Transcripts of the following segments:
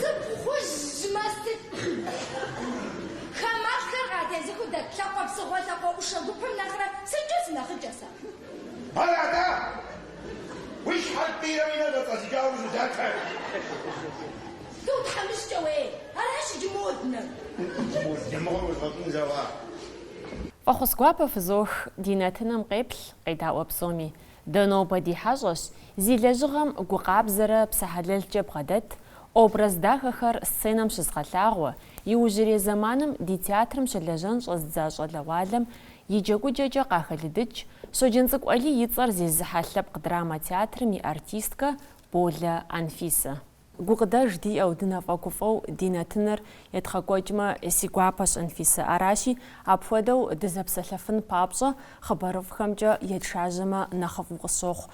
Сыпхъужьмэ сыт? Хамэлӏхэр къатезыхыу дэт лъакъуэ псыгъуэ лъакъуэ ӏушэ гупым нэхърэ сыткӏэ сынэхъыкӏэ сэ? Ар атӏэ, Уи щхьэр пӏийрэ уи нэ зэцӏэзыкӏауэ узудатэ. Зу тхьэмыщкӏэ уей, аращ иджы моднэр. Дымыгъуэр узгъэщӏын жагъуэ. Фӏэхъус гуапэ фызох ди нэтыным къеплъ къедаӏуэ псоми. Дэ нобэ ди хьэщӏэщ, зи лэжьыгъэм гу къабзэрэ псэ хьэлэлкӏэ бгъэдэт, образ дахэхэр сценэм щызгъэлъагъуэ, иужьрей зэманым ди театрым щылэжьэн щӏэздза щӏалэгъуалэм И джэгукӏэкӏэ къахэлыдыкӏ Щоджэнцӏыкӏу Алий и цӏэр зезыхьэ лъэпкъ драмэ театрым и артисткэ Болэ Анфисэ. Гукъыдэж диӏэу, дынэфӏэгуфӏэу ди нэтыныр едгъэкӏуэкӏмэ, си гуапэщ, Анфисэ. Аращи, апхуэдэу дызэпсэлъэфын папщӏэ хъыбарыфӏхэмкӏэ етшажьэмэ нэхъыфӏу къысщохъу.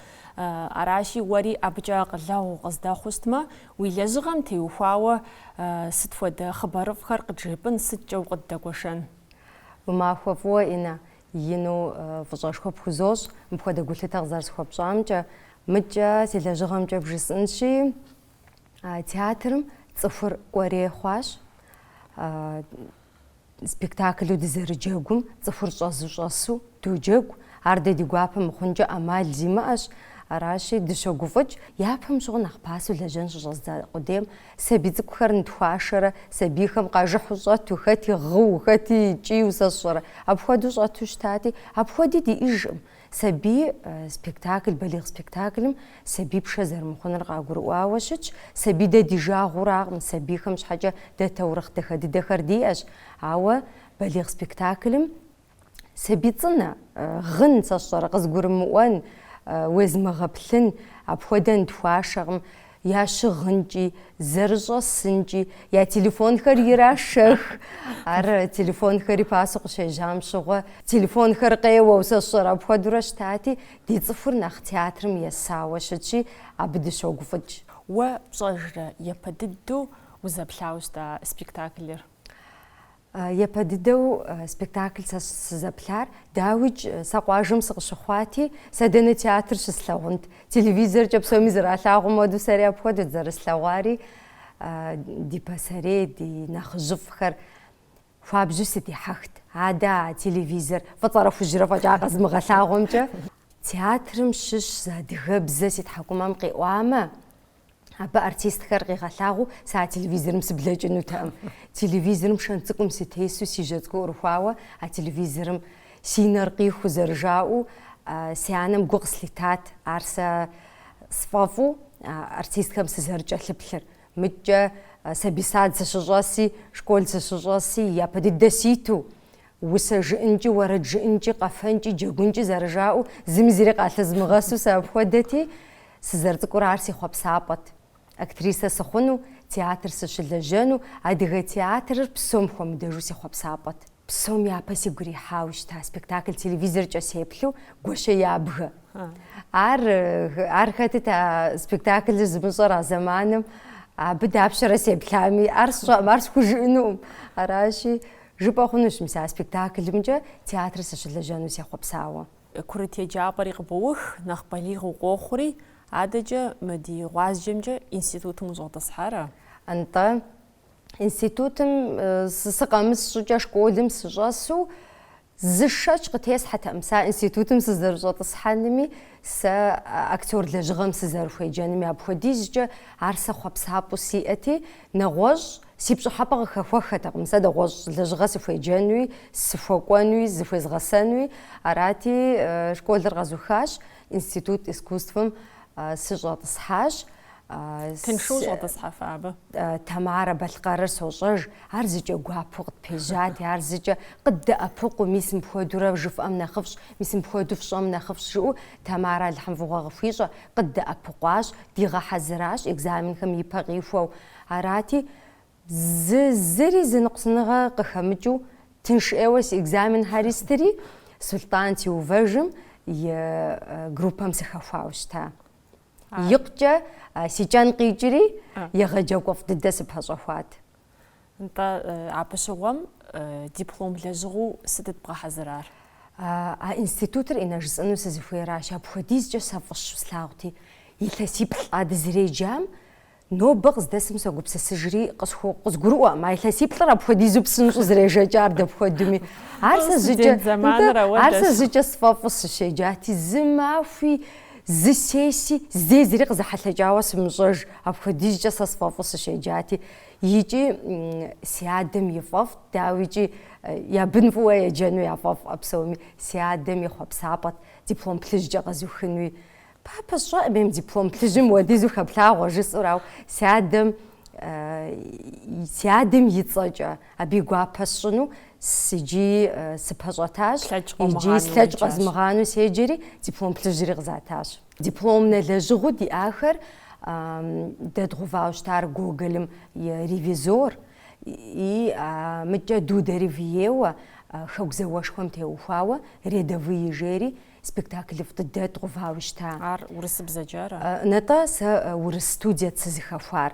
Аращи, уэри абыкӏэ акъылэгъу укъыздэхъуу щытмэ, уи лэжьыгъэм теухуауэ сыт хуэдэ хъыбарыфӏхэр къыджепӏын сыткӏэ укъыддэгуэшэн? Уи махуэ фӏыуэ, Инна, ину фӏыщӏэшхуэ пхузощӏ, мыпхуэдэ гулъытэ къызэрысхуэпщӏамкӏэ. Мыдкӏэ си лэжьыгъэмкӏэ бжысӏынщи, театрым цӏыхур кӏуэрей хъуащ. Спектаклу дызэрыджэгум цӏыхур щӏэзу щӏэсу доджэгу. Ар дэ ди гуапэ мыхъункӏэ ӏэмал зимыӏэщ. Аращи, дыщогуфӏыкӏ, япэм щыгъуэ нэхъ пасэу лэжьэн щыщӏэздза къудейм Сабий цӏыкӏухэр нытхуашэрэ, сабийхэм къажыхьу щӏэту, хэти гъыу, хэти кӏийу сэ сщӏэрэ, апхуэдэу щӏэту щытати, апхуэди диӏэжкъым. Сабий спектакль, балигъ спектаклым сабий пшэ зэрымыхъуныр къагурыӏуауэ щытщ. Сабий дэ ди жагъуэракъым, сабийхэм щхьэкӏэ дэ таурыхъ дахэ дыдэхэр диӏэщ. Ауэ балигъ спектаклым Сабий цӏынэ, гъын, сэ сщӏэрэ, къызыгурымыӏуэн, уезмыгъэплъын, апхуэдэ нытхуашэкъым, я щыгъынкӏи, зэрыщӏэсынкӏи, я телефонхэр ирашэх. Ар телефонхэри пасэу къыщежьам щыгъуэ, телефонхэр къеуэу, сэ сщӏэрэ, апхуэдэурэ щытати, ди цӏыхур нэхъ театрым есауэ щытщи, абы дыщогуфӏыкӏ. Уэ пщӏэжрэ япэ дыдэу узэплъауэ щыта спектаклыр? Япэ дыдэу спектакль сэ сызэплъар, дауикӏ, сэ къуажэм сыкъыщыхъуати, сэ дэнэ театр щыслъэгъунт. Телевизоркӏэ псоми зэралъагъум хуэдэу сэри апхуэдэт зэрыслъэгъуари, ди пасэрей, ди нэхъыжьыфӏхэр хуабжьу сыдихьэхт. Адэ а телевизор фӏыцӏэрэ хужьрэ фӏэкӏа къэзмыгъэлъагъуэмкӏэ. Театрым щыщ зы адыгэбзэ си тхьэкӏумэм къиӏуамэ, Абы артистхэр къигъэлъагъуу сэ а телевизорым сыблэкӏынутэкъым. Телевизорым шэнт цӏыкӏум сытесу си жьэ цӏыкӏур ӏурыхуауэ а телевизорым си нэр къихуу зэрыжаӏэу си анэм гу къыслъитат ар сэ сфӏэфӏу артистхэм сызэрыкӏэлъыплъыр. Мыкӏкӏэ сабий сад сыщыщӏэси, школ сыщыщӏэси, япэ дыдэ ситу Усэ жыӏэнкӏи, уэрэд жыӏэнкӏи, къэфэнкӏи, джэгункӏи зэрыжаӏэу, зыми зыри къалъызмыгъэсу сэ апхуэдэти, сызэрыцӏыкӏурэ ар си хъуэпсапӏэт. Актрисэ сыхъуну, театр сыщылэжьэну, адыгэ театрыр псом хуэмыдэжу си хъуэпсапӏэт. Псом япэ сигу ирихьауэ щыта спектакль телевизоркӏэ сеплъу Гуащэ ябгэ. Ар, ар хэтыт а спектаклыр зымыщӏэр а зэманым, абы дапщэрэ сеплъами, ар сщӏэӏым, ар схужыӏэнукъым. Аращи, Жыпӏэ хъунущ мис а спектаклымкӏэ театр сыщылэжьэну сехъуэпсауэ. Курыт еджапӏэри къыбоух, нэхъ балигъ укъохъури, адэкӏэ мы ди гъуазджэмкӏэ институтым ущӏэтӏысхьэрэ? Нтӏэ. Институтым сыкъэмыс щӏыкӏэ школым сыщӏэсу зы шэч къытесхьэтэкъым. Сэ а институтым сызэрыщӏэтӏысхьэнми, сэ актер лэжьыгъэм сызэрыхуеджэнми апхуэдизкӏэ ар сэ хъуэпсапӏэу сиӏэти, нэгъуэщӏ Си пщӏыхьэпӏэ къыхэхуэххэтэкъым сэ нэгъуэщӏ лэжьыгъэ сыхуеджэнуи, сыхуэкӏуэнуи, зыхуезгъэсэнуи. Арати, школыр къэзухащ, Институт искусствэм сыщӏэтӏысхьащ. Тыншу ущӏэтӏысхьэфа абы? Тамарэ Балъкъэрыр сощӏэж. Ар зыкӏэ гуапэу къытпежьати, ар зыкӏэ къыддэӏэпыкъуу, мис мыпхуэдурэ жыфӏэм нэхъыфӏщ, мис мыпхуэду фщӏэм нэхъыфӏщ, жиӏэу Тамарэ Алыхьым фӏыгъуэ къыхуищӏэ, къыддэӏэпыкъуащ, дигъэхьэзыращ экзаменхэм ипэ къихуэу. Арати, зы зыри зы ныкъусаныгъэ къыхэмыкӏыу тынш ӏейуэ си экзаменхэри стыри, Сулътӏан Теувэжым и группэм сыхэхуауэ щыта. Икъукӏэ си кӏэн къикӏри, егъэджакӏуэфӏ дыдэ сыпэщӏэхуат. Нтӏэ, абы щыгъуэм диплом лэжьыгъэу сыт бгъэхьэзырар? А институтыр инэ жысӏэну сызыхуейращ, апхуэдизкӏэ сэ фӏыщэу слъагъути, илъэсиплӏ а дызэреджам Нобэ къыздэсым согупсысыжри, къысху- къызгурыӏуэкъым, а илъэсиплӏыр апхуэдизу псынщӏэу зэрежэкӏар дапхуэдуми. Ар сэ Студент жьыкӏэ- зэманыр Нтӏэ, ауэ ар сэ дэсу. зыкӏэ сфӏэфӏу сыщеджати, зы махуи, зы сесси, здей зыри къызэхьэлъэкӏауэ сымыщӏэж, апхуэдизкӏэ сэ сфӏэфӏу сыщеджати. Икӏи м, си адэм ифӏэфӏт, дауикӏи, э, я бын фӏыуэ еджэну яфӏэфӏӏэ псоми. Си адэм и хъуэпсапӏэт диплом плъыжькӏэ къэзухынуи. Папэ сщӏэӏым диплом плъыжьым уэдизу хэплъагъуэ жысӏэу, ау си адэм си адэм и цӏэкӏэ абы и гуапэ сщӏыну иджи сыпэщӏэтащ, иджи слъэкӏ къэзмыгъану седжэри диплом плъыжьри къызатащ. Дипломнэ лэжьыгъэу диӏахэр дэдгъувауэ щытар Гоголым и Ревизор и мыкӏэ Дударев ейуэ Хэку зауэшхуэм теухуауэ Рядовые жери Спектаклыфӏ дыдэ дгъувауэ щыта. Ар урысыбзэкӏэ ара? Нтӏэ, сэ урыс студиэт сызыхэхуар.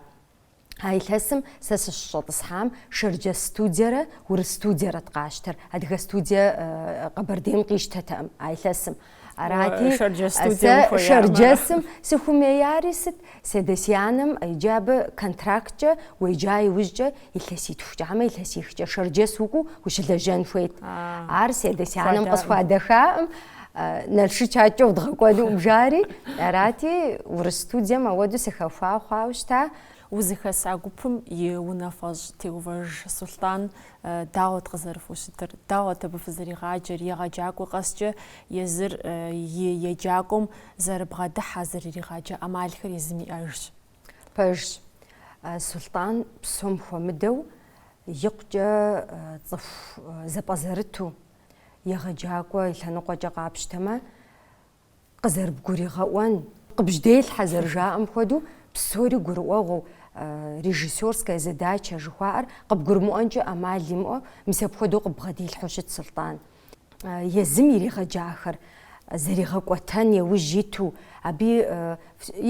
А илъэсым сэ сыщыщӏэтӏысхьам шэрджэс студиерэ урыс студиерэт къащтэр. Адыгэ студие Къэбэрдейм къищтэтэкъым а илъэсым. Арати, сэ шэрджэсым сыхумеяри сыт? Си адэ-си анэм иджы абы контракткӏэ уеджа иужькӏэ илъэситхукӏэ хьэмэ илъэсихкӏэ Шэрджэс укӏуэу ущылэжьэн хуейт. Ар си адэ-си анэм къысхуадэхаӏым, Налшык адкӏэ удгъэкӏуэнуӏым жари, арати, урыс студием ауэду сыхэхуа хъуауэ щыта. Узыхэса гупым и унафэщӏ Теувэж Сулътӏан дауэт къызэрыфхущытыр? Дауэт абы фызэригъаджэр? Егъэджакӏуэ къэскӏэ езыр и еджакӏуэм зэрыбгъэдыхьэ, зэрыригъаджэ ӏэмалхэр езым иӏэжщ. Пэжщ, Сулътӏан псом хуэмыдэу икъукӏэ цӏыху зэпӏэзэрыту, егъэджакӏуэ и лъэныкъуэкӏэ къапщтэмэ, къызэрыбгуригъэӏуэн, къыбжьэделъхьэ зэрыжаӏэм хуэдэу, псори гурыӏуэгъуэу, режиссерская задача жыхуаӏэр къыбгурымыӏуэнкӏэ ӏэмал имыӏэу, мис апхуэдэу къыббгъэдилъхьэу щытт Сулътӏан. езым иригъэджахэр зэригъэкӏуэтэн еужь иту абы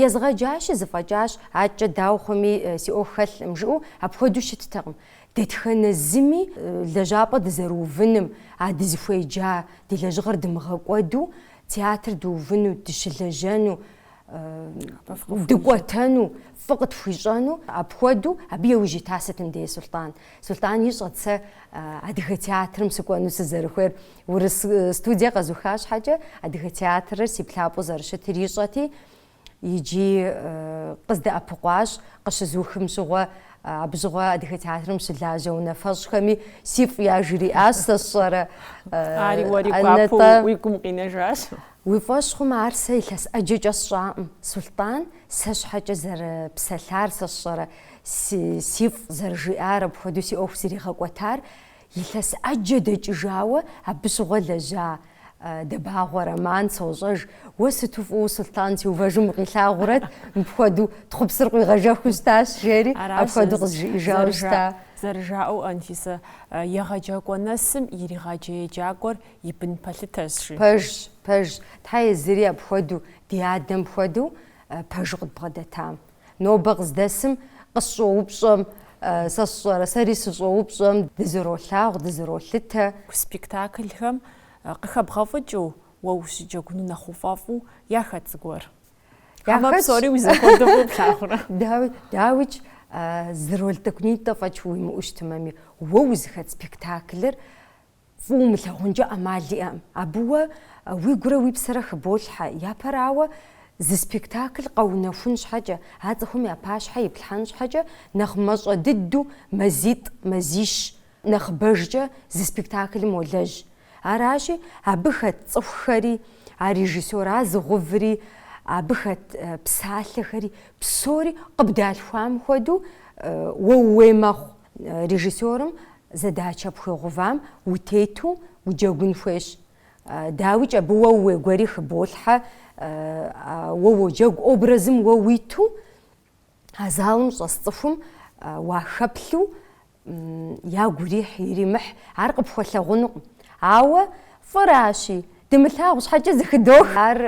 езгъэджащи зэфӏэкӏащ, адэкӏэ дауэ хъуми си ӏуэху хэлъкъым жыӏэу апхуэдэу щыттэкъым. Дэтхэнэ зыми лэжьапӏэ дызэрыувыным, а дызыхуеджа ди лэжьыгъэр дымыгъэкӏуэду театр дыувыну, дыщылэжьэну, дыкӏуэтэну, фӏы къытхуищӏэну, апхуэдэу абы еужь ита сытым дей Сулътӏан. Сулътӏан ищӏэт сэ Адыгэ театрым сыкӏуэну сызэрыхуейр. Урыс студие къэзуха щхьэкӏэ Адыгэ театрыр си плъапӏэу зэрыщытыр ищӏэти, иджи къыздэӏэпыкъуащ, къыщызухым щыгъуэ, абы щыгъуэ Адыгэ театрым щылажьэ унафэщӏхэми сифӏ яжриӏащ, сэ сщӏэрэ. Ари уэри гуапэу уи гум къинэжащ. Уи фӏэщ хъумэ, ар сэ илъэс ӏэджэкӏэ сщӏакъым, Сулътӏан, сэ щхьэкӏэ зэрыпсэлъар сэ сщӏэрэ, си, си фӏ зэрыжиӏар апхуэдэу си ӏуэху зэригъэкӏуэтар, илъэс ӏэджэ дэкӏыжауэ абы щыгъуэ лэжьа, Дэбагъуэ Роман, сощӏэж, уэ сыту фӏыуэ Сулътӏан Теувэжым укъилъагъурэт, мыпхуэдэу тхъупсыр къуигъэжэхыу щытащ, жери, Аращ апхуэдэу къызжиӏэжауэ щыта. Зэрыжаӏэу, Анфисэ, егъэджакӏуэ нэсым иригъаджэ еджакӏуэр и бын пэлъытэрщ, жи. Пэжщ, пэжщ. Тхьэ езыри апхуэдэу, ди адэм хуэдэу пэжу къыдбгъэдэтам. Нобэ къыздэсым къысщӏоупщӏэм, сэ сщӏэрэ, сэри сыщӏоупщӏэм, дызэролъагъу, дызэролъытэ. Спектаклхэм къыхэбгъэфӏыкӏыу уэ ущыджэгуну нэхъ уфӏэфӏу яхэт зыгуэр? Хьэмэ Яхэтщ. псори уи зэхуэдэу фӏы плъагъурэ? Дауи, дауикӏ, зы роль тӏэкӏунитӏэ фӏэкӏ уимыӏэу щытымэми, уэ узыхэт спектаклыр Фӏы умылъагъункӏэ ӏэмал иӏэкъым. Абы уэ уигурэ уи псэрэ хыболъхьэ. Япэрауэ, зы спектакль къэунэхун щхьэкӏэ, а цӏыхум я пащхьэ иплъхьэн щхьэкӏэ, нэхъ мащӏэ дыдэу мазитӏ, мазищ нэхъыбэжкӏэ зы спектаклым уолэжь. Аращи, абы хэт цӏыхухэри, а режиссёр а зыгъэуври, абы хэт псалъэхэри, псори къыбдалъхуам хуэдэу уэ ууей мэхъу. Режиссерым задачэ пхуигъэувам утету уджэгун хуейщ. Дауикӏ, абы уэ ууей гуэри хыболъхьэ, уэ уоджэгу образым уэ уиту, а залым щӏэс цӏыхум уахэплъу ягу ирихь, иримыхь, ар къыпхуэлъагъунукъым. Ауэ фӏыращи, дымылъагъу щхьэкӏэ зэхыдох. Ар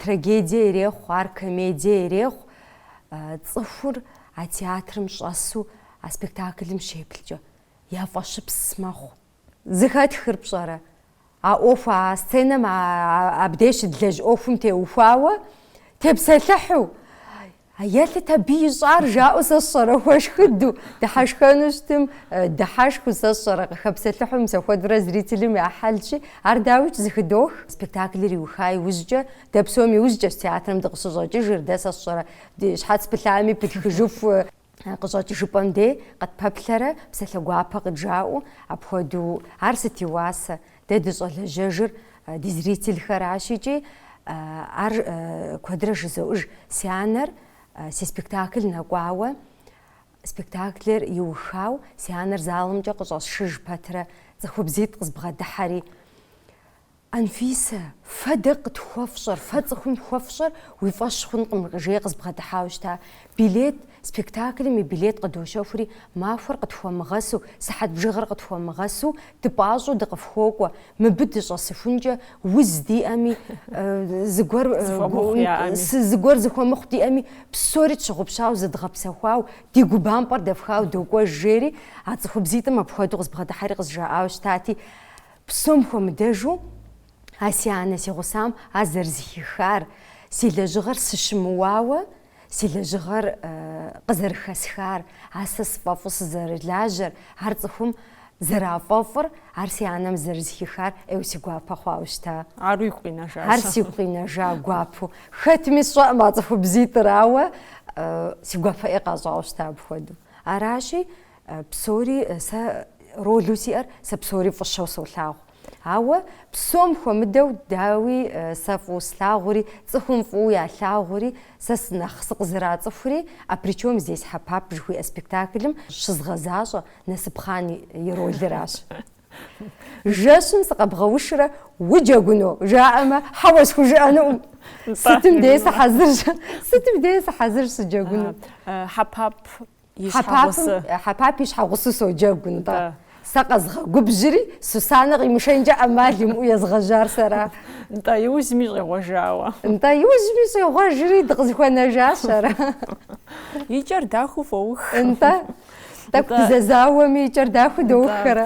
трагедие ирехъу, ар комедие ирехъу, цӏыхур А театрым щӏэсу а спектаклым щеплъкӏэ, я фӏэщыпс мэхъу. Зэхэтхыр пщӏэрэ? А ӏуэху, а сценэм абдеж щыдлэжь ӏуэхум теухуауэ тепсэлъыхьу, елъыт абы ищӏар, жаӏэу сэ сщӏэрэ, хуэшхыду, дыхьэшхэну щытым, дыхьэшхыу сэ сщӏэрэ, къыхэпсэлъыхьу мис апхуэдурэ зрителым я хьэлщи, ар дауикӏ зэхыдох. Спектаклыр иуха иужькӏэ, дэ псом иужькӏэщ театрым дыкъыщыщӏэкӏыжыр, дэ сэ сщӏэрэ, Ди щхьэц пылъами пытхыжыху, къыщӏэкӏыжыпӏэм дей къытпэплъэрэ псалъэ гуапэ къыджаӏэу апхуэдэу ар сыт и уасэ? Дэ дыщӏэлэжьэжыр ди зрительхэращ икӏи ар куэдрэ жызоӏэж, си анэр си спектакль нэкӏуауэ, спектаклыр иухау си анэр залымкӏэ къыщӏэсшыж пэтрэ цӏыхубзитӏ къызбгъэдыхьэри. Анфисэ, фэ дэ къытхуэфщӏэр, фэ цӏыхум хуэфщӏэр уи фӏэщ хъункъым, жери къызбгъэдыхьауэ щыта. Билет, спектаклым и билет къыдощэхури, махуэр къытхуэмыгъэсу, сыхьэт бжыгъэр къытхуэмыгъэсу, дыпӏащӏэу дыкъыфхуокӏуэ, мыбы дыщӏэсыхункӏэ уз диӏэми, зыгуэр зыгуэр зэхуэмыхъу диӏэми, псори тщыгъупщауэ зыдгъэпсэхуауэ, ди гу бампӏэр дэфхауэ докӏуэж, жери а цӏыхубзитӏым апхуэдэу къызбгъэдыхьэри къызжаӏауэ щытати, Псом хуэмыдэжу, а си анэ си гъусам ар зэрызыхихар, си лэжьыгъэр сыщымыуауэ си лэжьыгъэр къызэрыхэсхар, а сэ сфӏэфӏу сызэрылажьэр, ар цӏыхум зэрафӏэфӏыр, ар си анэм зэрызыхихар ӏейуэ си гуапэ хъуауэ щыта. Ар уигу къинэжа? Ар сигу къинэжа гуапэу. Хэтми сщӏэкъым а цӏыхубзитӏыр, ауэ си гуапэ ӏей къащӏауэ щыта апхуэдэу. Аращи, Псори сэ ролу сиӏэр, сэ псори фӏыщэу солъагъу. Ауэ псом хуэмыдэу, дауи, сэ фӏыуэ слъагъури, цӏыхум фӏыуэ ялъагъури, сэ нэхъ сыкъызэрацӏыхури А при чем здесь Хьэпап жыхуиӏэ спектаклым щызгъэзащӏэ Насыпхъан и ролыращ. Жэщым сыкъэбгъэушрэ уджэгуну? жаӏэмэ, хьэуэ схужыӏэнукъым. Сытым дей сыхьэзырщ, сытым дей сыхьэзырщ сыджэгуну. Хьэпап и щхьэгъусэ. Хьэпапым и щхьэгъусэу соджэгу, нтӏэ. Сэ къэзгъэгубжьри, Сусанэ къимышэнкӏэ ӏэмал имыӏэу езгъэжьар сэра. Нтӏэ, иужьми щӏегъуэжауэ. Нтӏэ, иужьми щӏегъуэжри, дыкъызыхуэнэжащ ара? И кӏэр дахэу фоух. Нтӏэ, тӏэкӏу дызэзауэми, и кӏэр дахэу доух ара?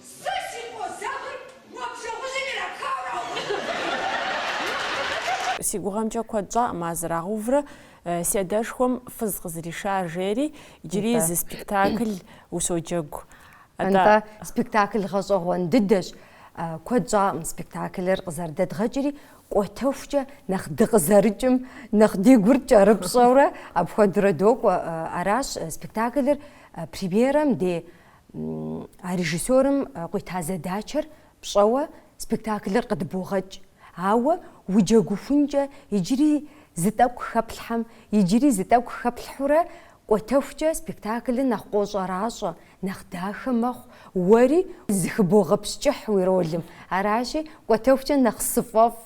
Сэ си къозэгъыр уэ бжэгъужьым ирапхауэ раувыжынкъым. Си гугъэмкӏэ куэд щӏакъым а зэрагъэуврэ си адэшхуэм фыз къызэришар жери иджыри зы спектаклу соджэгу. Атӏэ, спектакль гъэщӏэгъуэн дыдэщ. Куэд щӏакъым спектаклыр къызэрыдэдгъэкӏри, кӏуэтэхукӏэ нэхъ дыкъызэрыкӏым, нэхъ ди гур кӏэрыпщӏэурэ апхуэдэурэ докӏуэ. Аращ спектаклыр премьерэм дей А режиссерым къуита задачэр пщӏэуэ спектаклыр къыдбогъэкӏ, ауэ уджэгухункӏэ иджыри зы тӏэкӏу хэплъхьэм, иджыри зы тӏэкӏу хэплъхьурэ кӏуэтэхукӏэ спектаклыр нэхъ къощӏэращӏэ, нэхъ дахэ мэхъу, уэри зыхыбогъэпскӏыхь уи ролым. Аращи, кӏуэтэхукӏэ нэхъ сфӏэфӏ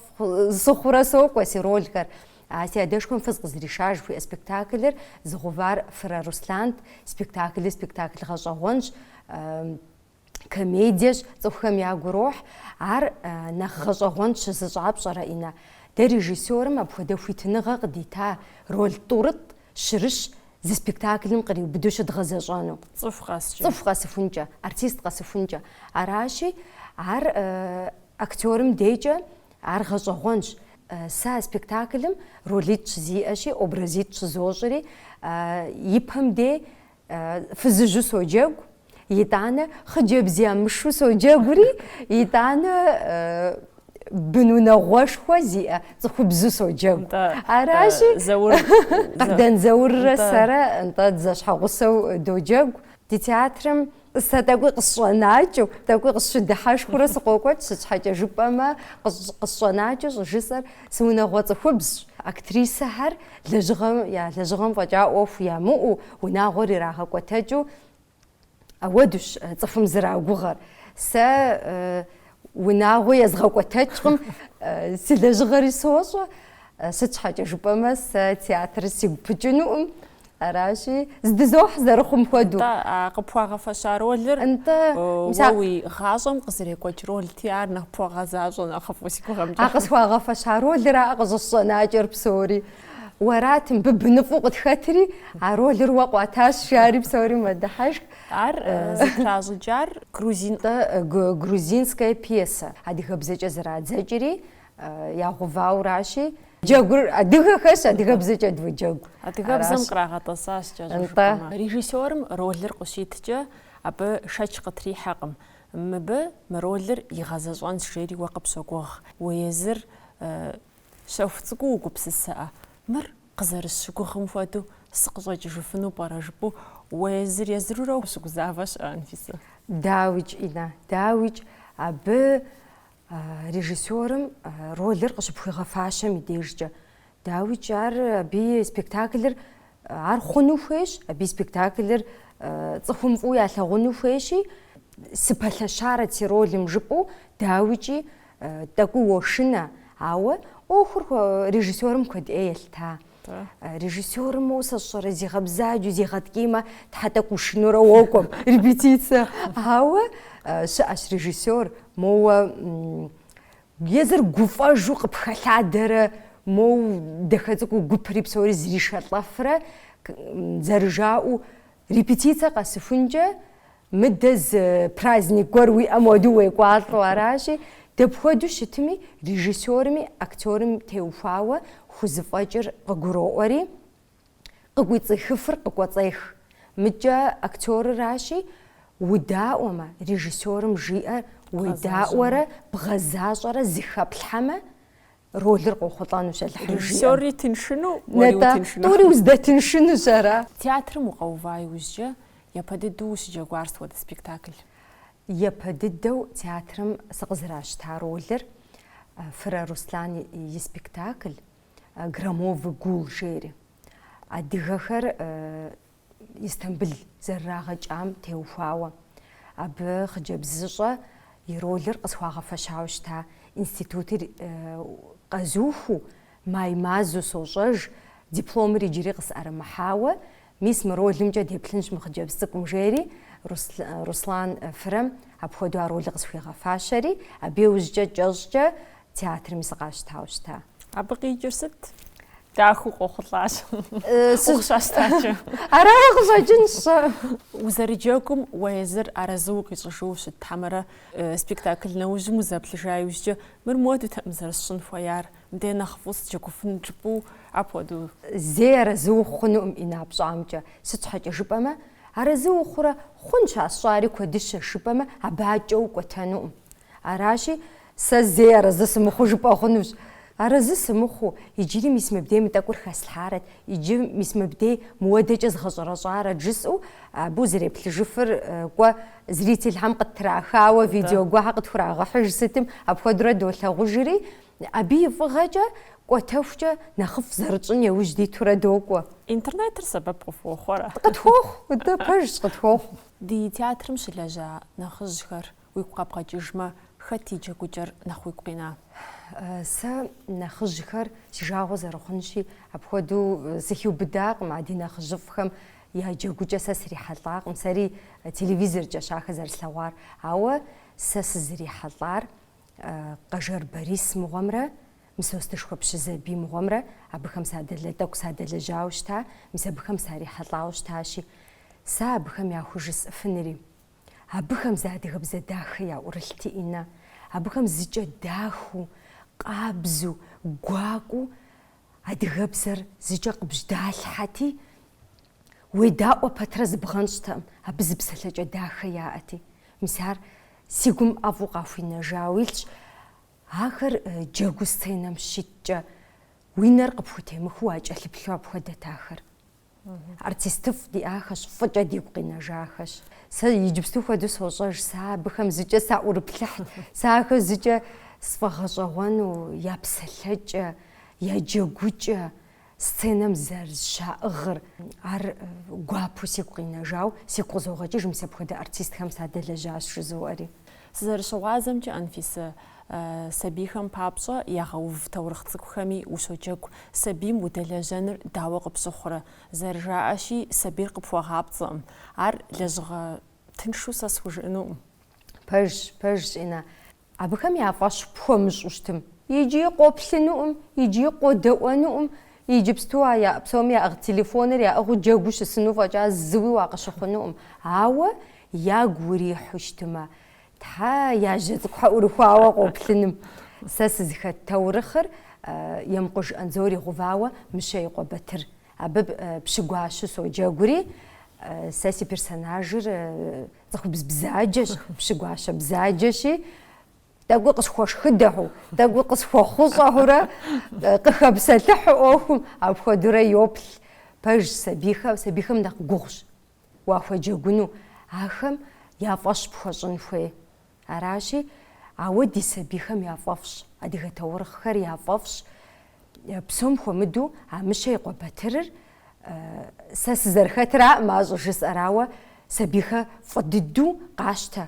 сыхъурэ сокӏуэ си ролхэр. А си адэшхуэм фыз къызэришар жыхуиӏэ спектаклыр зыгъэувар Фырэ Руслант. Спектаклыр спектакль гъэщӏэгъуэнщ, комедиещ, цӏыхухэм ягу рохь. Ар нэхъ гъэщӏэгъуэн сщызыщӏар пщӏэрэ, Инна? Дэ режиссерым апхуэдэ хуитыныгъэ къыдита роль тӏурытӏ щырыщ зы спектаклым къриубыдэу щыдгъэзэщӏэну. Цӏыху къэскӏэ. Цӏыху къэсыхункӏэ, артист къэсыхункӏэ. Аращи, ар актерым декӏэ Ар гъэщӏэгъуэнщ. Сэ а спектаклым ролитӏ щызиӏэщи, образитӏ щызощӏри, ипэм дей фызыжьу соджэгу, итӏанэ хъыджэбз ямышэу соджэгури, итӏанэ бын унагъуэшхуэ зиӏэ цӏыхубзу соджэгу. Аращи, Къардэн Зауррэ сэрэ нтӏэ дызэщхьэгъусэу доджэгу. Ди театрым Сэ тӏэкӏуи къысщӏэнакӏэу, тӏэкӏуи къысщыдыхьэшхыурэ сыкъокӏуэкӏ, сыт щхьэкӏэ жыпӏэмэ, къысщӏэнакӏэу щӏыжысӏэр сыунагъуэ цӏыхубзщ. Актрисэхэр лэжьыгъэм я лэжьыгъэм фӏэкӏа ӏуэху ямыӏэу, унагъуэр ирагъэкӏуэтэкӏыу ауэдущ цӏыхум зэрагугъэр. Сэ унагъуэ езгъэкӏуэтэкӏкъым, си лэжьыгъэри сощӏэ, сыт щхьэкӏэ жыпӏэмэ сэ театрыр сигу пыкӏынукъым. Аращи, здызохь зэрыхъум хуэдэу. Нтӏэ, а къыпхуагъэфэща ролыр Нтӏэ, мис уэ а- уи гъащӏэм къызэрекӏуэкӏ ролти, ар нэхъ пхуэгъэзащӏэ нэхъыфӏу си гугъэмкӏэ. А къысхуагъэфэща ролраа къыщӏысщӏэнакӏэр псори. Уэрат мыбы быныфӏэу къытхэтри, а ролыр уэ къуатащ, жари псори мэдыхьэшх. Ар э, зытращӏыкӏар грузин Нтӏэ, э, гру- грузинская пьесэ. Адыгэбзэкӏэ зэрадзэкӏри, ягъэувауращи. Джэгур адыгэхэщ, адыгэбзэкӏэ доджэгу. Адыгэбзэм кърагъэтӏэсащ кӏэщӏу жыпӏэмэ. Режиссерым ролыр къыщиткӏэ, абы шэч къытрихьэкъым. Мыбы мы ролыр игъэзэщӏэнщ, жери уэ къыпщогугъ. Уэ езыр щэху цӏыкӏуу угупсысэкъэ. Мыр къызэрысщыгугъым хуэдэу сыкъыщӏэкӏыжыфыну пӏэрэ? жыпӏэу уэ езыр езырурэ ущыгузавэ щыӏэ, Анфисэ? Дауикӏ, Инна, дауикӏ. Абы режиссерым ролыр къыщыпхуигъэфащэм и дежкӏэ. Дауикӏ ар абы и спектаклыр ар хъуну хуейщ, абы и спектаклыр цӏыхум фӏыуэ ялъагъуну хуейщи, сыпэлъэщарэт си ролым жыпӏэу, дауикӏи, тӏэкӏуу уошынэ. Ауэ ӏуэхур режиссерым куэд ӏей елъыта. Режиссерым моу сэ сщӏэрэ зигъэбзаджэу, зигъэткӏиймэ, тхьэ тӏэкӏу ушынэурэ уокӏуэм репетицэ. Ауэ щыӏэщ режиссер, моуэ езыр гуфӏэжу къыпхэлъадэрэ, моу дахэ цӏыкӏуу гупри псори зришэлӏэфрэ, зэрыжаӏэу, репетицэ къэсыхункӏэ, Мыдэ зы праздник гуэр уиӏэм хуэдэу уекӏуалӏэу аращи, дапхуэду щытми режиссерми актерым теухуауэ хузэфӏэкӏыр къыгуроӏуэри, къыкӏуэцӏихыфыр къыкӏуэцӏех. Мыдкӏэ актерыращи, удаӏуэмэ, режиссерым жиӏэр уедаӏуэрэ бгъэзащӏэрэ зыхэплъхьэмэ, ролыр къохъулӏэнущ Алыхьым жиӏэм. Режиссёрри тыншыну, уэри утыншыну. Тӏури уздэтыншынущ ара? Театрым укъэува иужькӏэ япэ дыдэу ущыджэгуар сыт хуэдэ спектакль? Япэ дыдэу театрым сыкъызэращта ролыр Фырэ Руслан и спектакль Громовый гул жери. Адыгэхэр Истамбыл зэрырагъэкӏам теухуауэ, абы хъыджэбзыщӏэ и ролыр къысхуагъэфэщауэ щыта институтыр къэзухыу, май мазэу сощӏэж, дипломыр иджыри къысӏэрымыхьауэ, мис мы ролымкӏэ деплъынщ мы хъыджэбз цӏыкӏум, жери Руслан Фырэм апхуэдэу а ролыр къысхуигъэфащэри, абы иужькӏэ кӏэщӏкӏэ Театрми сыкъащтауэ щыта. Абы къикӏыр сыт? Дахэу къохъулӏащ. Укъыщащтакӏэ. Ара къыщӏэкӏынщ. Узэрыджэгум уэ езыр арэзы укъищӏыжу щыт хьэмэрэ спектакль нэужьым узэплъыжа иужькӏэ мыр модэу тӏэкӏу зэрысщӏын хуеяр? Мыдэ нэхъыфӏу сыджэгуфын жыпӏэу апхуэдэу. Зэи арэзы ухъу хъунукъым, Инэ, пщӏамкӏэ. Сыт щхьэкӏэ жыпӏэмэ, арэзы ухъурэ хъунщ а сщӏари куэдыщэ жыпӏэмэ абы адэкӏэ укӏуэтэнукъым. Аращи, Сэ зэи арэзы сымыхъуу жыпӏэ хъунущ. Арэзы сымыхъуу, иджыри мис мыбдей мы тӏэкӏур хэслъхьарэт, иджы мис мыбдей мыуэдэкӏэ згъэщӏэрэщӏарэт жысӏэу абы узэреплъыжыфыр кӏуэ зрительхэм къыттрахауэ видео гуэрхэр къытхурагъэхьыж сытым апхуэдэурэ долъагъужри, абы и фӏыгъэкӏэ кӏуэтэхукӏэ нэхъыфӏ зэрытщӏын еужь дитурэ докӏуэ. Интернетыр сэбэп къыфхуэхъурэ? Къытхуохъу, дэ пэжщ, къытхуохъу. Ди театрым щылэжьа нэхъыжьхэр Уигу къэбгъэкӏыжмэ, хэт и джэгукӏэр нэхъ уигу къина? Сэ нэхъыжьхэр си жагъуэ зэрыхъунщи, апхуэдэу сыхиубыдакъым, а ди нэхъыжьыфӏхэм я джэгукӏэ сэ срихьэлӏакъым, сэри телевизоркӏэщ ахэр зэрыслъэгъуар. Ауэ сэ сызрихьэлӏар Къэжэр Борис мыгъуэмрэ Мысостышхуэ Пщызэбий мыгъуэмрэ абыхэм садэлэ, тӏэкӏу садэлэжьауэ щыта, мис абыхэм сарихьэлӏауэ щытащи, сэ абыхэм яхужысӏыфынри, Абыхэм зы адыгэбзэ дахэ яӏурылъти, Инэ, абыхэм зыкӏэ дахэу, къабзу, гуакӏуэу адыгэбзэр зыкӏэ къыбжьэдалъхьэти, уедаӏуэ пэтрэ зыбгъэнщӏтэкъым, абы зы псэлъэкӏэ дахэ яӏэти. Мис ар си гум ӏэфӏу къахуинэжауэ илъщ. Ахэр джэгуу сценэм щиткӏэ, уи нэр къыпхутемыхыу уакӏэлъыплъу апхуэдэт ахэр. Артистыфӏ диӏахэщ, фӏыкӏэ дигу къинэжахэщ. Сэ иджыпсту хуэдэу сощӏэж, сэ абыхэм зыкӏэ саӏурыплъыхьт, сэ ахэр зыкӏэ сфӏэгъэщӏэгъуэну я псэлъэкӏэ, я джэгукӏэ, сценэм зэрызыщаӏыгъыр. Ар гуапэу сигу къинэжауэ, сигу къызогъэкӏыж мис апхуэдэ артистхэм садэлэжьащ жызоӏэри. Сызэрыщыгъуазэмкӏэ, Анфисэ, сабийхэм папщӏэ ягъэув таурыхъ цӏыкӏухэми ущоджэгу. Сабийм удэлэжьэныр дауэ къыпщыхъурэ? Зэрыжаӏэщи, сабийр къыпхуэгъапцӏэкъым. Ар лэжьыгъэ тыншу сэ схужыӏэнукъым. Пэжщ, пэжщ, Инна. Абыхэм я фӏэщ пхуэмыщӏу щытым, икӏи къоплъынукъым, икӏи къодэӏуэнукъым. Иджыпсту а яӏэ псоми яӏыгъ телефоныр яӏыгъыу джэгуу щысыну фӏэкӏа зыуи уакъыщыхъунукъым. Ауэ ягу урихьу щытымэ, Тхьэ я жьэ цӏыкӏухэ ӏурыхуауэ къоплъыным. Сэ сызыхэт таурыхъыр Емкъуж Андзор игъэувауэ Мыщэ и къуэ Батыр. Абы пщы гуащэу соджэгури, сэ си персонажыр цӏыхубз бзаджэщ, пщы гуащэ бзаджэщи, тӏэкӏуи къысхуэшхыдэу, тӏэкӏуи къысхуэхъущӏэурэ, къыхэпсэлъыхьу ӏуэхум, апхуэдэурэ йоплъ. Пэжщ сабийхэм, сабийхэм нэхъ гугъущ. Уахуеджэгуну ахэм я фӏэщ пхуэщӏын хуей. Аращи, ауэ ди сабийхэм яфӏэфӏщ, адыгэ таурыхъхэр яфӏэфӏщ. Псом хуэмыдэу а Мыщэ и къуэ Батырыр сэ сызэрыхэтраӏым а щӏыжысӏэр, ауэ сабийхэ фӏы дыдэу къащтэ.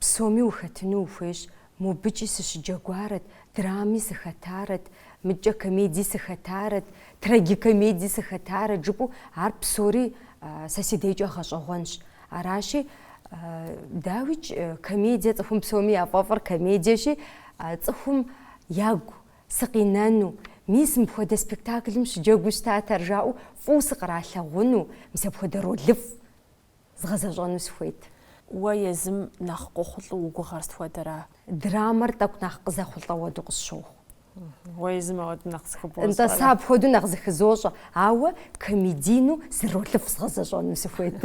Псоми ухэтыну ухуейщ, мобыкӏи сыщыджэгуарэт, драми сыхэтарэт, мыдкӏэ комедии сыхэтарэт, трагикомедии сыхэтарэт жыпӏэу ар псори сэ си дежкӏэ гъэщӏэгъуэнщ. Аращи, дауикӏ, комедие цӏыхум псоми яфӏэфӏыр комедиещи, цӏыхум ягу сыкъинэну, мис мыпхуэдэ спектаклым щыджэгуу щытат ар жаӏэу фӏыуэ сыкъралъагъуну, мис апхуэдэ ролыфӏ згъэзэщӏэну сыхуейт. Уэ езым нэхъ къохъулӏэу уи гугъэр сыт хуэдэра? Драмэр тӏэкӏу нэхъ къызэхъулӏэ хуэдэу къысщохъу. Уэ езым апхуэдэу нэхъ зыхыбощӏэрэ? Нтӏэ, сэ апхуэдэу нэхъ зыхызощӏэ, ауэ комедийну зы ролыфӏ згъэзэщӏэну сыхуейт.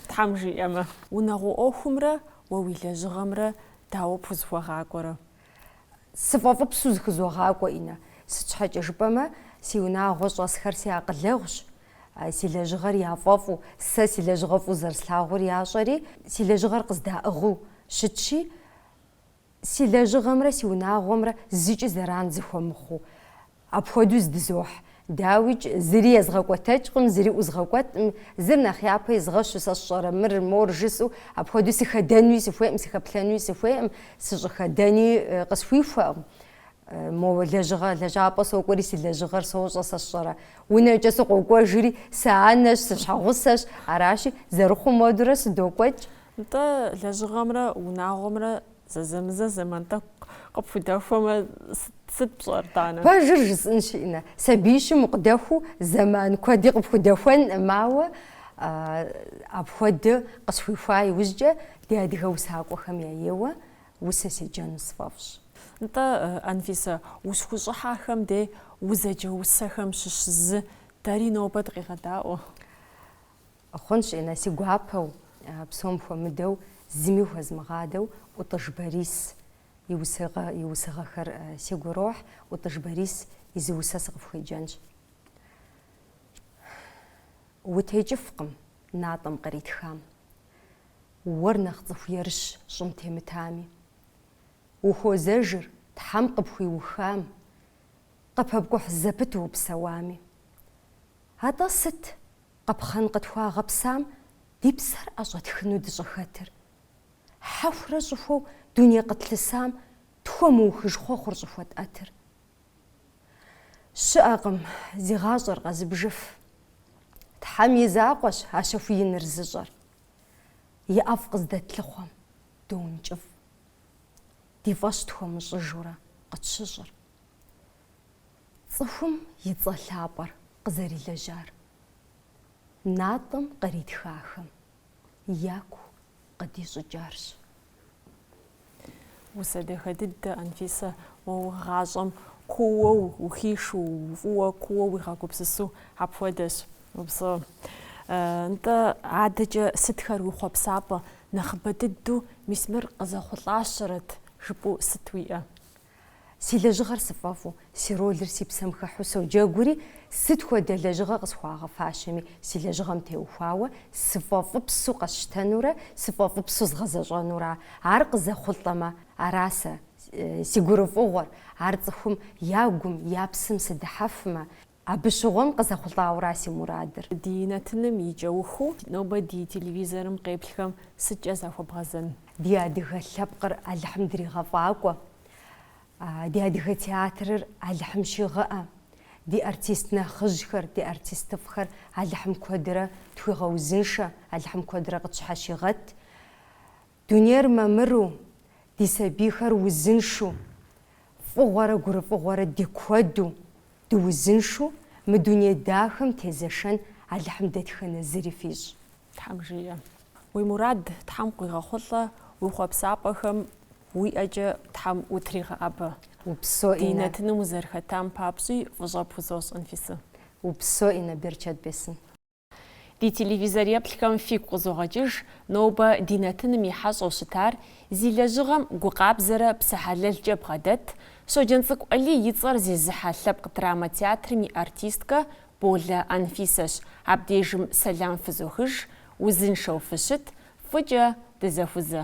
Тхьэм жиӏэмэ. Унагъуэ ӏуэхумрэ уэ уи лэжьыгъэмрэ дауэ пхузыхуэгъакӏуэрэ? Сыфӏэфӏыпсу зыхызогъакӏуэ, Инна. Сыт щхьэкӏэ жыпӏэмэ, си унагъуэ щӏэсхэр си акъылэгъущ, Си лэжьыгъэр яфӏэфӏу, сэ си лэжьыгъэр фӏыуэ зэрыслъагъур ящӏэри, си лэжьыгъэр къыздаӏыгъыу щытщи, си лэжьыгъэмрэ си унагъуэмрэ зыкӏи зэран зэхуэмыхъуу апхуэдэу здызохь. Дауикӏ, зыри езгъэкӏуэтэкӏкъым, зыри ӏузгъэкӏуэтӏым, зыр нэхъ япэ изгъэщу, сэ сщӏэрэ мыр, мор жысӏэу, апхуэдэу сыхэдэнуи сыхуейкъым, сыхэплъэнуи сыхуейкъым, сыщӏыхэдэни къысхуихуэкъым. Мо лэжьыгъэ лэжьапӏэ сокӏуэри, си лэжьыгъэр сощӏэ сэ сщӏэрэ? Унэкӏэ сыкъокӏуэжри, сэ анэщ, сыщхьэгъусэщ, аращи, зэрыхъум хуэдэурэ сыдокӏуэкӏ. Нтӏэ, лэжьыгъэмрэ унагъуэмрэ зэзэмызэ зэман тӏэкӏу къыпхудэхуэмэ, сыт пщӏэр, тӏанэ? Пэжыр жысӏынщ, Иннэ. Сабиищым укъыдэхуэу зэман куэди къыпхудэхуэнкъым, ауэ апхуэдэ къысхуихуа иужькӏэ ди адыгэ усакӏуэхэм яеуэ усэ седжэну сфӏэфӏщ. Нтӏэ, Анфисэ, ущыхущӏыхьахэм де узэджэ усэхэм щыщ зы дэри нобэ дыкъегъэдаӏуэ. Хъунщ, Иннэ, си гуапэу, псом хуэмыдэу, зыми хуэзмыгъадэу ӏутӏыж Борис и усыгъэ, и усыгъэхэр сигу ирохь, ӏутӏыж Борис и зы усэ сыкъыфхуеджэнщ. Утекӏыфкъым натӏэм къритхам. Уэр нэхъ цӏыху ерыщ щӏым темытами. Ухуозэжыр, Тхьэм къыпхуиухам, къыпэпкӏухь зэпыту упсэуами. Атӏэ сыт къапхъэн къытхуагъэпсам ди псэр ӏэщӏэтхыну дыщӏыхэтыр? Хьэхурэ щӏыхуэу дуней къытлъысам тхуэмыухыж хъуэхъур щӏыхуэтӏэтыр? Щыӏэкъым, зи гъащӏэр къэзыбжыф. Тхьэм и закъуэщ а щэху иныр зыщӏэр. и ӏэфӏ къыздэтлъыхъуэм доункӏыфӏ, ди фӏэщ тхуэмыщӏыжурэ къытщыщӏыр, цӏыхум и цӏэ лъапӏэр къызэрилэжьар, натӏэм къритхахэм яку къыдищӏыкӏарщ. Усэ дахэ дыдэ, Анфисэ, уэ уи гъащӏэм куууэ ухишу, фӏыуэ куууэ уигъэгупсысу апхуэдэщ. Упсэу. Нтӏэ, адэкӏэ сытхэр уи хъуэпсапӏэ, нэхъыбэ дыдэу мис мыр къызэхъулӏащэрэт жыпӏэу сыт уиӏэ? Си лэжьыгъэр сыфӏэфӏу, си ролыр си псэм хыхьу соджэгури, сыт хуэдэ лэжьыгъэ къысхуагъэфащэми си лэжьыгъэм теухуауэ сыфӏэфӏыпсу къэсщтэнурэ сыфӏэфӏыпсу згъэзэщӏэнура ар къызэхъулӏэмэ, ара сэ си гурыфӏыгъуэр, ар цӏыхум я гум, я псэм сыдыхьэфмэ, Абы щыгъуэм къызэхъулӏауэра си мурадыр? Ди нэтыным и кӏэухыу нобэ ди телевизорым къеплъхэм сыткӏэ захуэбгъэзэн? Ди адыгэ лъэпкъыр Алыхьым дригъэфӏакӏуэ. Ди адыгэ театрыр Алыхьым щигъэӏэ. Ди артист нэхъыжьхэр, ди артистыфӏхэр Алыхьым куэдрэ тхуигъэузыншэ, Алыхьым куэдрэ къытщхьэщигъэт. Дунейр мамыру, ди сабийхэр узыншу, фӏыгъуэрэ гурыфӏыгъуэрэ ди куэду, дыузыншу мы дуней дахэм темызэшэн Алыхьым дэтхэнэ зыри фищӏ. Тхьэм жиӏэ. Уи мурад Тхьэм къуигъэхъулӏэ, уи хъуэпсапӏэхэм уи ӏэкӏэ Тхьэм утригъэӏэбэ. Упсо, ди нэтыным узэрыхэтам папщӏи фӏыщӏэ пхузощӏ, Анфисэ. Упсо, Иннэ, берычэт бесын. Ди телевизореплъхэм фигу къызогъэкӏыж нобэ ди нэтыным и хьэщӏэу щытар, зи лэжьыгъэм гукъабзэрэ псэ хьэлэлкӏэ бгъэдэт Щоджэнцӏыкӏу Алий и цӏэр зезыхьэ лъэпкъ драмэ театрым и артисткэ Болэ Анфисэщ. Абдежым сэлам фызохыж, узыншэу фыщыт, фӏыкӏэ дызэхузэ.